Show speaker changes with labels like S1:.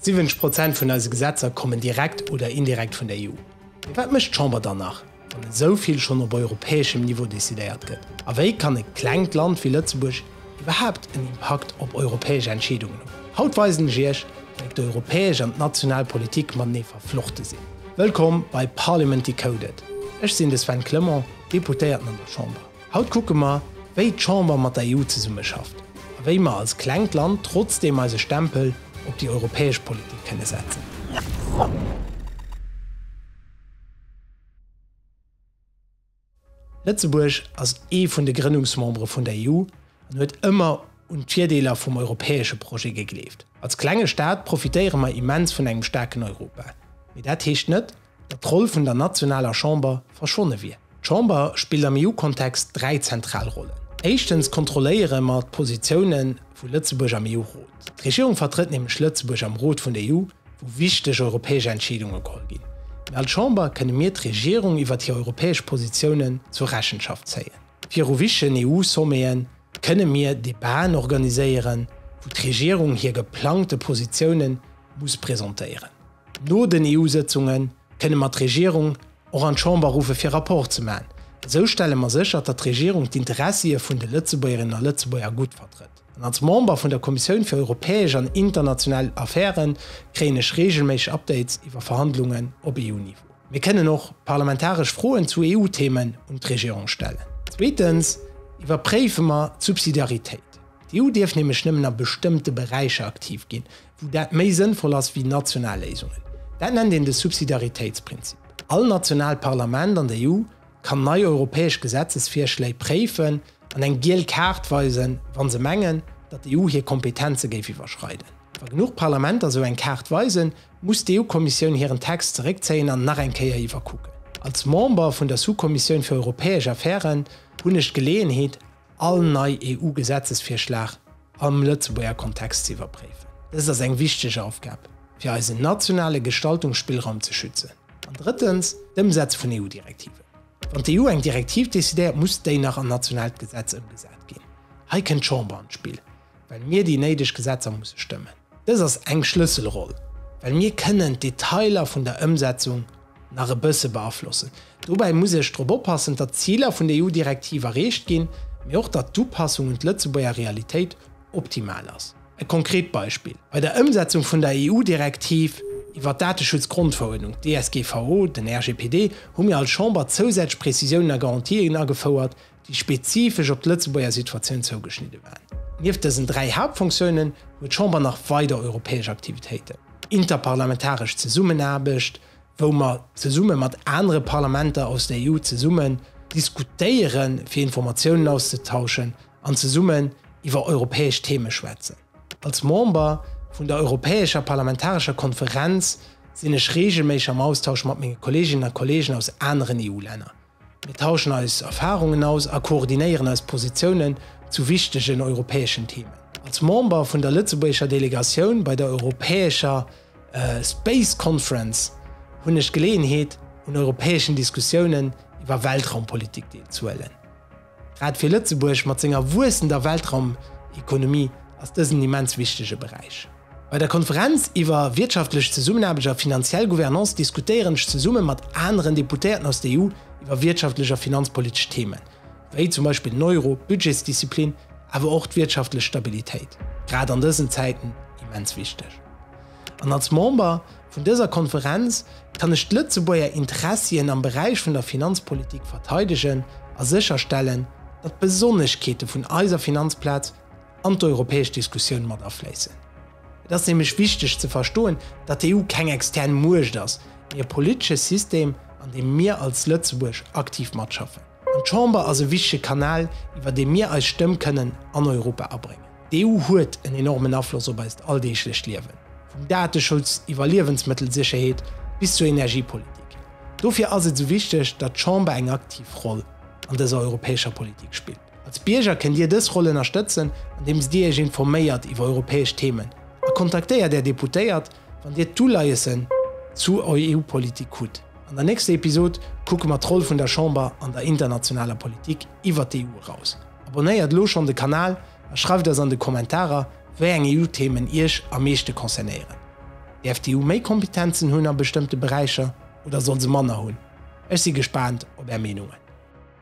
S1: 70 Prozent vun eise Gesetzer kommen direkt oder indirekt vun der EU. Mee wat mécht d'Chamber dann nach, wann esou vill schonn op europäeschem Niveau decidéiert gëtt? A wéi kann e klengt Land wéi Lëtzebuerg iwwerhaapt en Impakt op europäesch Entscheedungen hunn? Haut weisen ech Iech, wéi d'europäesch an d'national Politik matenee verflochte sinn. Wëllkomm bei Parliament Decoded, ech sinn de Sven Clement, Deputéierten an der Chamber. Haut kucke mer, wéi d'Chamber mat der EU zesummeschafft a wéi mer als klengt Land trotzdeem eise Stempel op déi europäesch Politik kënne setzen. Lëtzebuerg ass ee vun de Grënnungsmembere vun der EU an huet ëmmer un d'Virdeeler vum europäesche Projet gegleeft. Als klenge Staat profitéiere mer immens vun engem staarken Europa, mee dat heescht net, datt d'Roll vun der nationaler Chamber verschwonne wier. D'Chamber spillt am EU-Kontext dräi zentral Rollen. Éischtens kontrolléiere mer d'Positioune vu Lëtzebuerg am EU-Rot. D'Regierung vertrëtt nämlech Lëtzebuerg am Rot vun der EU, wou wichteg europäesch Entscheedunge geholl ginn. Mee als Chamber kënne mir d'Regierung iwwert hir europäesch Positiounen zur Rechenschaft zéien. Viru wichtegen EU-Sommete kënne mir Debaten organiséieren, wou d'Regierung hir geplangte Positioune muss presentéieren. No den EU-Sëtzunge kënne mer d'Regierung och an d'Chamber ruffe fir Rapport ze maachen. Esou stelle mer sécher, datt d'Regierung d'Interessie vun de Lëtzebuergerinnen a Lëtzebuerger gutt vertrëtt. An als Member vun der Kommissioun fir europäesch an international Affäre kréien ech reegelméisseg Updates iwwer Verhandlungen op EU-Niveau. Mir kënnen och parlamentaresch Froen zu EU-Themen un d'Regierung stellen. Zweetens iwwerpréife mer d'Subsidiaritéit. D'EU dierf nämlech nëmmen a bestëmmte Beräicher aktiv ginn, wou dat méi sënnvoll ass wéi national Léisungen, dat nennt een de Subsidiaritéitsprinzip. All nationaalt Parlament an der EU kann nei europäesch Gesetzesvirschléi préifen an eng giel Kaart weisen, wa se mengen, datt d'EU hir Kompetenze géif iwwerschreiden. Wa genuch Parlamenter esou eng Kaart weisen, muss d'EU-Kommissioun hiren Text zeréckzéien an nach eng Kéier iwwerkucken. Als Member vun der Sous-Kommissioun fir europäesch Affären hunn ech d'Geleeënheet, all nei EU-Gesetzesvirschlag am Lëtzebuerger Kontext ze iwwerpréifen. Dëst ass eng wichteg Aufgab, fir eisen nationale Gestaltungsspillraum ze schützen. An drëttens, d'Ëmsetze vun EU-Direktiven. Wann d'EU eng Direktiv decidéiert, muss déi nach an nationaalt Gesetz ëmgesat ginn. Hei kënnt d'Chamber an d'Spill. well mir déi néideg Gesetzer musse stëmmen. Dës ass eng Schlësselroll, well mir kënnen d'Detailer vun der Ëmsetzung nach e bësse beaflossen. Dobäi muss ech drop oppassen, datt d'Ziler vun der EU-Direktiv erreecht ginn, mee och datt d'Upassung un d'Lëtzebuerger Realitéit optimal ass. E konkret Beispill, Bei der Ëmsetzung vun der EU-Direktiv iwwert d'Dateschutzgrondverordnung, DSGVO, den RGPD, hu mir als Chamber zousätzlech Prezisiounen a Garantien agefouert, déi spezifesch op d'Lëtzebuerger Situatioun zougeschnidde waren. Nieft dësen dräi Haaptfonctiounen huet d'Chamber nach weider europäesch Aktivitéiten, interparlamentaresch Zesummenaarbecht, wou mer zesumme mat anere Parlamenter aus der EU zesummen diskutéieren, fir Informatiounen auszetauschen an zesummen iwwer europäesch Theme schwätzen. Als Member vun der europäescher parlamentarescher Konferenz sinn ech reegelméisseg am Austausch mat menge Kolleeginnen a Kolleegen aus aneren EU-Länner. Mir tauschen eis Erfahrungen aus a koordinéieren eis Positiounen zu wichtegen europäeschen Themen. Als Member vun der lëtzebuergescher Delegatioun bei der europäescher Space Conference hunn ech d'Geleeënheet, un europäeschen Diskussiounen iwwer Weltraumpolitik deelzehuelen. Grad fir Lëtzebuerg mat senger wuessender Weltraumekonomie ass dësen en immens wichtege Beräich. Bei der Konferenz iwwer wirtschaftlech Zesummenaarbecht a finanziell Gouvernance diskutéieren ech zesumme mat aneren Deputéierten aus der EU iwwer wirtschaftlech a finanzpolitesch Themen, wéi zum Beispill den Euro, d'Budgetsdisziplin, awer och d'wirtschaftlech Stabilitéit, grad an dësen Zäiten immens wichteg. An als Member Vun dëser Konferenz kann ech d'Lëtzebuerger Interessien am Beräich vun der Finanzpolitik verteidegen a sécherstellen, datt d'Besonneschkeete vun eiser Finanzplaz an d'europäesch Diskussioun mat afléissen. Et ass nämlech wichteg ze verstoen, datt d'EU keng extern Muecht ass, mee e politesche System, an deem mir als Lëtzebuerg aktiv matschaffen. An d'Chamber ass e wichtege Kanal, iwwer dee mir eis Stëmm kënnen an Europa abréngen. D'EU huet en enormen Afloss op eist alldeeglecht Liewen, vum Dateschutz iwwer Liewensmëttelsécherheet bis zur Energiepolitik. Dofir ass et esou wichteg, datt d'Chamber eng aktiv Roll an dëser europäescher Politik spillt. Als Bierger kënnt Dir dës Roll ënnerstëtzen, andeems Dir Iech informéiert iwwer europäesch Themen a kontaktéiert Är Deputéiert, Wann Dir d'Uleiessen zu EU-Politik hutt. An der nächster Episod kucke mer d'Roll vun der Chamber an der internationaler Politik iwwert d'EU eraus. Abonnéiert elo schonn de Kanal a schreift eis an de Kommentarer, wéi eng EU-Themen Iech am meeschte concernéieren. Däerf d'EU méi Kompetenzen hunn a bestëmmte Beräicher oder soll se manner hunn? Ech si gespaant op Är Meenungen.